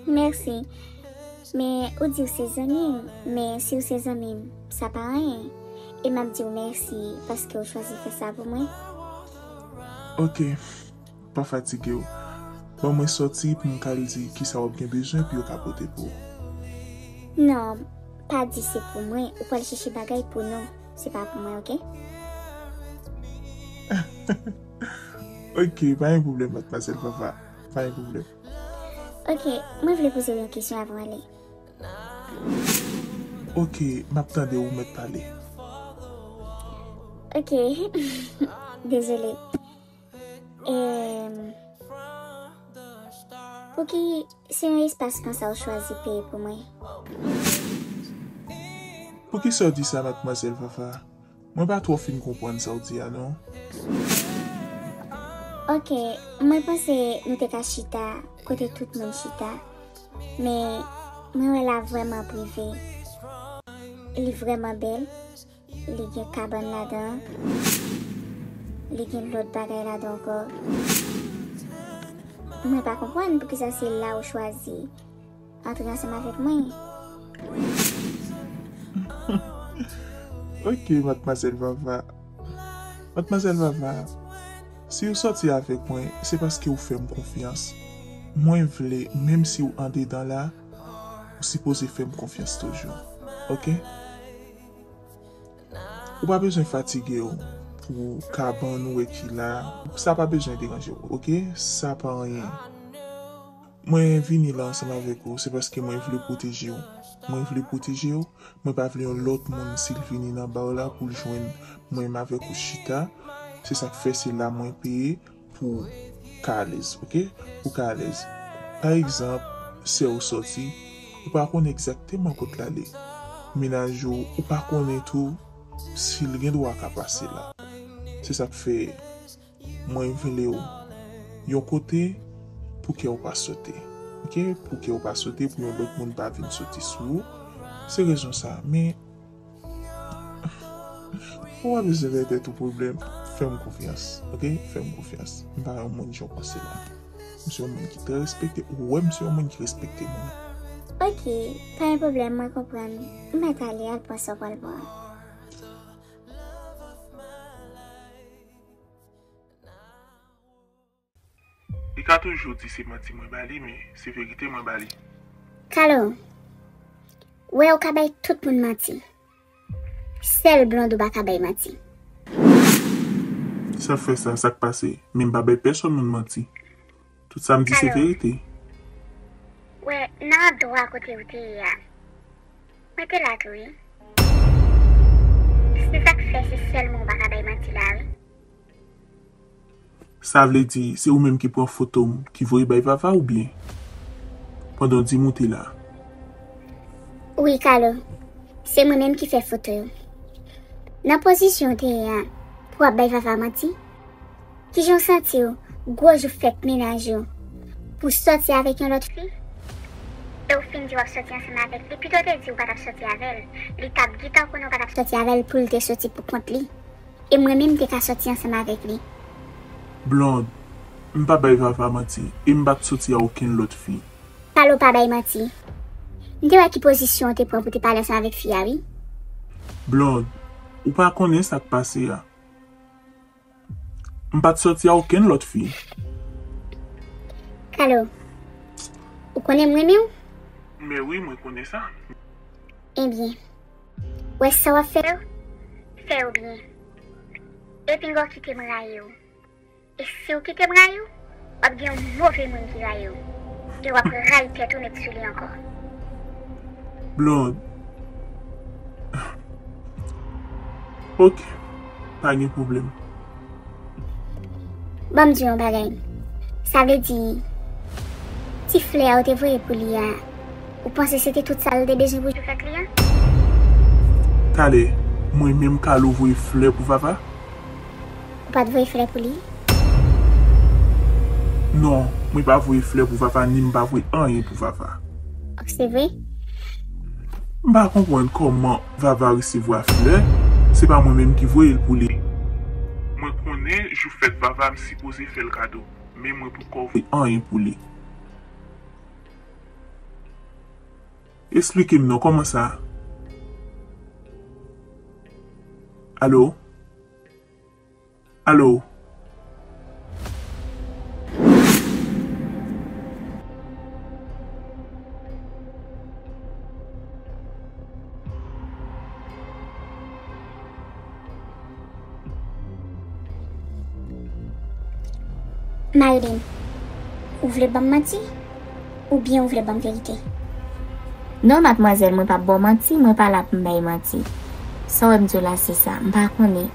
Merci Men ou diw se zanmim men siw se zanmim sa pa anyen e map diw merci paske ou chwazi fè sa pou mwen. Ok Pa fatigew Ban mwen sòti pou m ka al di kisa wap gen bezwen pou yo ka pote pou ou. Non pa di se pou mwen ou pral chèche bagay pou nou se pa pou mwen ok. Ok pa gen pwoblèm madmwazèl Vava pa gen pwoblèm. Ok mwen vle pozew yon kesyon avan w ale. Ok map tande ou mèt pale. Ok dezole emm pouki se yon espas konsa ou chwazi peye pou mwen. Poukisa w di sa matmwazèl Vava? Mwen pa twò fin konprann sa w di a non. Ok mwen panse nou te ka chita kote tout moun chita men mwen wè la vrèman prive li vrèman bèl li gen kabann ladan li gen lòt bagay ladan ankò mwen pa konprann poukisa se la ou chwazi Antre ansanm avèk mwen. Ok Madmwazèl Vava. Madmwazèl Vava, si ou sòti avèk mwen, se paske ou fè m konfyans. Mwen vle, menm si ou andedan la, ou sipoze fè m konfyans toujou. Ok? Ou pa bezwen fatige w pou kabann ou wè ki la, sa pa bezwen deranje w. Ok? Sa pa anyen. Mwen vini la ansanm avèk ou, se paske mwen vle pwoteje ou. Mwen vle pwoteje ou, mwen pa vle yon lòt moun si l vini nan ba w la pou l jwenn mwen m avèk ou chita, se sa k fè se la mwen peye pou w ka alèz ok, pou w ka alèz. Pa egzanp, sè ou sòti, ou pa konnen egzakteman kot l ale. Mennaj ou, ou pa konnen tou si l gen dwa ka pase la. Se sa k fè. Mwen vle w Yon kote Pou kè w pa sote ok Pou kè w pa sote Pou yon lòt moun pa vin sote sou ou Se rezon sa Men Ou pa bezwen fè tèt ou pwoblèm Fè m konfyans ok Fè m konfyans M pa yon moun jan w panse la M se yon moun ki trè respekte Ou wè m se yon moun ki respekte moun. Ok Pa gen pwoblèm mwen konprann M mèt ale al pran sa w pral pran. Li ka toujou di se manti mwen ba li men se verite mwen ba li. Kalo, wè ou ka bay tout moun manti. Sèl blond ou pa ka bay manti. Sa fè sa, sa k pase? Men m pa bay pèsòn moun manti. Tout sa m di se verite. Wè, nan adwa kote ou te ye a. Mwen te la tou wi. Se sa k fè se sèlman ou pa ka bay manti la wi. Sa vle di, se ou menm ki pran foto m, ki voye bay Vava oubyen? Pandan w di m ou te la. Wi Kalo, se mwen menm ki fè foto yo. Nan pozisyon ou te ye a, pou w ap bay Vava manti? Kijan w santi w gwo jou fèt mennaj ou pou w sòti avèk yon lòt fi e w fin di w ap sòti ansanm avèk li pito w te di w pa t ap sòti avè l li t ap gitan konnen w pa t ap sòti avè l pou l te sòti pou kont li e mwen menm m te ka sòti ansanm avèk li. Blonde, M pa bay Vava manti e m pa t sòti a okenn lòt fi. Pale w pa bay manti. M te wè ki pozisyon w te pran pou w te pale ansanm avèk fi a wi. Blonde, Ou pa konnen sa k pase a. M pat soti a okenn lòt fi. Kalo, Ou konnen m renmen w? Men wi, mwen konnen sa. Ebyen, wè sa w ap fè yo, fè yo byen. E pinga w kite m rayi w. E si w kite m rayi w? Wap gen yon move moun ki rayiw e wap rayi tèt ou met sou li ankò. Blonde. Ok pa gen problème. Banm diw yon bagay. Sa vle di ti flè a ou te voye pou li a ou panse se te tout sal te bezwen pou jou fèt li a? Talè mwen menm Carlo voye flè pou Vava? Ou pat voye flè pou li? Non, mwen pa voye flè pou Vava ni m pa voye anyen pou Vava. Ok, se vre? M pa konprann kòman Vava resevwa flè, se pa mwen menm ki voye l pou li. Mwen konnen jou fèt Vava m sipoze fè l kado, men mwen poukò voye anyen pou li. Esplike m non, kòman sa? Alo? Allo. Marilyn, ou vle banm manti? Ou byen ou vle banm verite. Non madmwazèl mwen pap baw manti mwen pa la poum bay manti sa wèm diw la se sa mpa konnen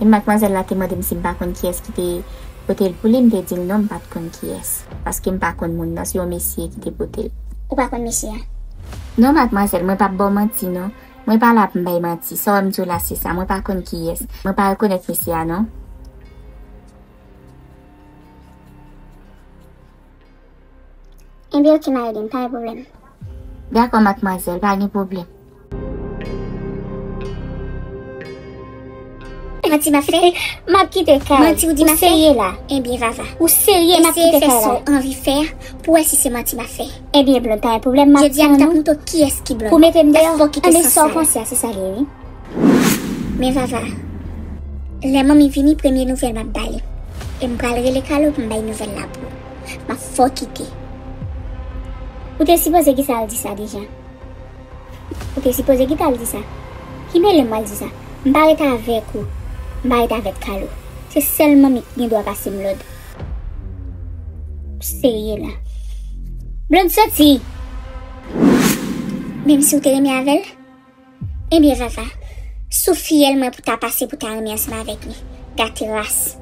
men madmwazèl la te mandem sim pa konn kiyès kite potel pou li mte dil non mpat konn kiyès paske mpa konn moun nan se yon mesye ki te potel. Ou pa konn mesye a? Non madmwazèl mwen pap baw manti non mwen pa la poum bay manti sa wèm diw la se sa mwen pa konn kiyès mwen pa rekonèt mesye a non. Enbyen ok ma eden, pa gen pwoblèm. Dakò matmwazèl, pa gen pwoblèm. Manti map fè, map kite kay. Manti ou di map fè. Ou serye la? Enbyen Vava. Ou serye map kite kay la? Eseye fè sa w anvi fè a pou wè si se manti map fè. Enbyen Blond, pa gen pwoblèm map tann ou. Jodi a m tap moutre w kiyès ki Blond. Pou w mete m deyò? Anbyen sa w panse a se sa l ye wi. Men Vava, lè manmi vini premye nouvèl map ba li. E m pral rele Carlo pou m bay nouvèl la pou ou. Map fè w kite. Ou te sipoze kite al di sa deja. Ou te sipoze kite al di sa. Ki mele m pral di sa. M pa ret avèk ou. M pa ret avèk Carlo. Se sèl manmi ki gen dwa pase m lòd. Serye la. Blond soti! Menm si ou te renmen avè l? Ebyen Vava, sou fiyèl mwen pou ta pase pou ta renmen ansanm avèk li. Gate ras.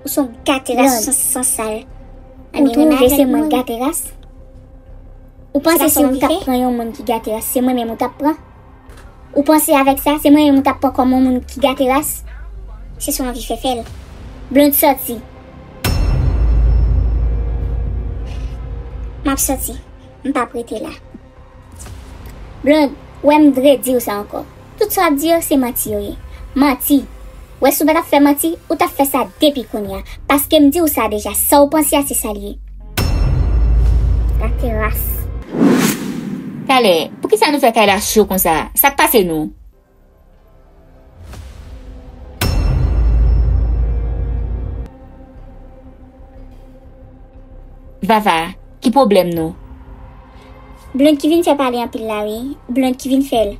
Ou son gate ras ou son sansal. Ou twouve se mwen k gate ras? Ou panse si ou tap pran yon moun ki gate ras se mwen menm ou tap pran? Ou panse avèk sa se mwen menm ou tap pran kòm yon moun ki gate ras? Se sa w anvi fè fèl. Blonde sòti. Map sòti. M pap rete la. Blonde, wè m vre diw sa ankò. Tout sa wap di yo se manti yo ye. Manti! Wè si w pa tap fè manti, ou tap fè sa depi kounye a. Paske m diw sa deja, sa w panse a se sa l ye. Gate ras. Talè, poukisa nou fè kay la cho konsa? Sak pase nou? Vava, ki pwoblèm nou? Blond ki vin fè pale anpil la wi, Blond ki vin fèl.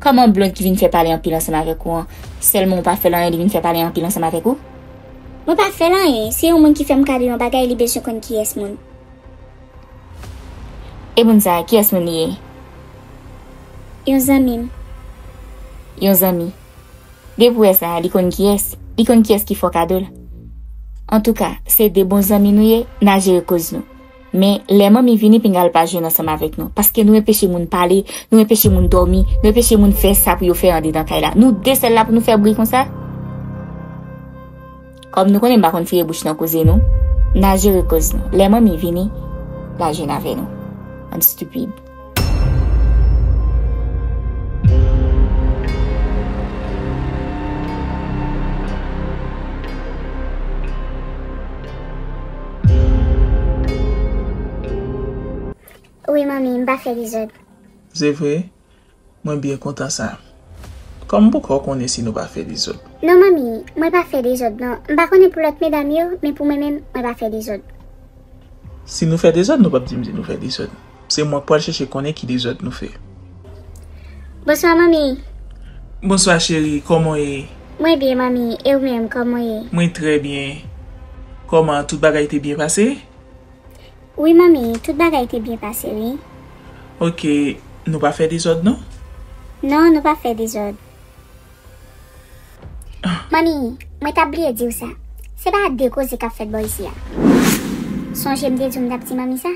Kòman Blond ki vin fè pale anpil ansanm avèk ou an, sèlman ou pa fèl anyen li vin fè pale anpil ansanm avèk ou? Mwen pa fèl anyen, se yon moun ki fèm kado yon bagay li bezwen konn kiyès moun. E moun sa a, kiyès moun li ye? Yon zanmi m. Yon zanmi. Depi w wè sa a, li konn kiyès. Li konn kiyès ki fè w kado l. Antouka, se de bon zanmi nou ye, n a jere koz nou. Men, lè manmi vini, pinga l pa jwenn ansanm avèk nou. Paske nou enpeche moun pale, nou enpeche moun dòmi, nou enpeche moun fè sa pou yo fè andedan kay la. Nou de sèl la pou nou fè bri konsa? Kòm nou konnen m pa konn fire bouch nan koze nou, n a jere koz nou. Lè manmi vini, l a jwenn avè nou. Bann stupid. Wi manmi, m pa fè dezòd. Se vre? Mwen byen kontan sa. Kòm m poko konnen si nou pa fè dezòd. Non manmi, mwen pa fè dezòd non. M pa konnen pou lòt medam yo, men pou mwen menm, mwen pa fè dezòd. Si nou fè dezòd, nou pap di m di nou fè dezòd. Se mwen k pral chèche konnen ki dezòd nou fè. Bonswa manmi. Bonswa cheri, kòman w ye? Mwen byen manmi, e ou menm, kòman w ye? Mwen trè byen. Kòman, tout bagay te byen pase? Wi manmi, tout bagay te byen pase wi. Ok, nou pa fè dezòd non? Non, nou pa fè dezòd. Manmi, mwen t ap bliye di w sa. Se pa de koze k ap fèt bò isi a. Sonje m te di w m t ap di manmi sa?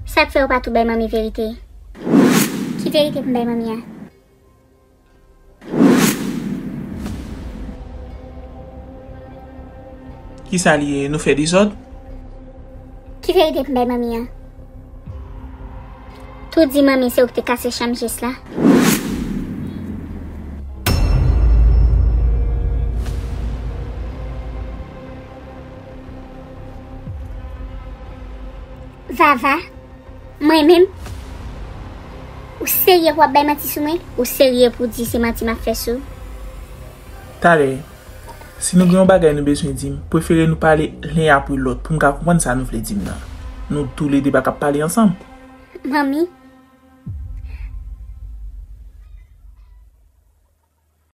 Sa k fè ou pa tou bay manmi verite? Ki verite pou m bay manmi a? Kisa li ye nou fè dezòd? Ki verite pou m bay manmi an? Tou di manmi se ou ki te kase chanm Jess la? Vava, mwen menm? Ou serye pou wap bay manti sou mwen? Ou serye pou di se manti map fè sou? Talè, si nou gen yon bagay nou bezwen di, m prefere nou pale len apre lòt pou m ka konprann sa nou vle di m nan. Nou toule de pa kap pale ansanm. Manmi.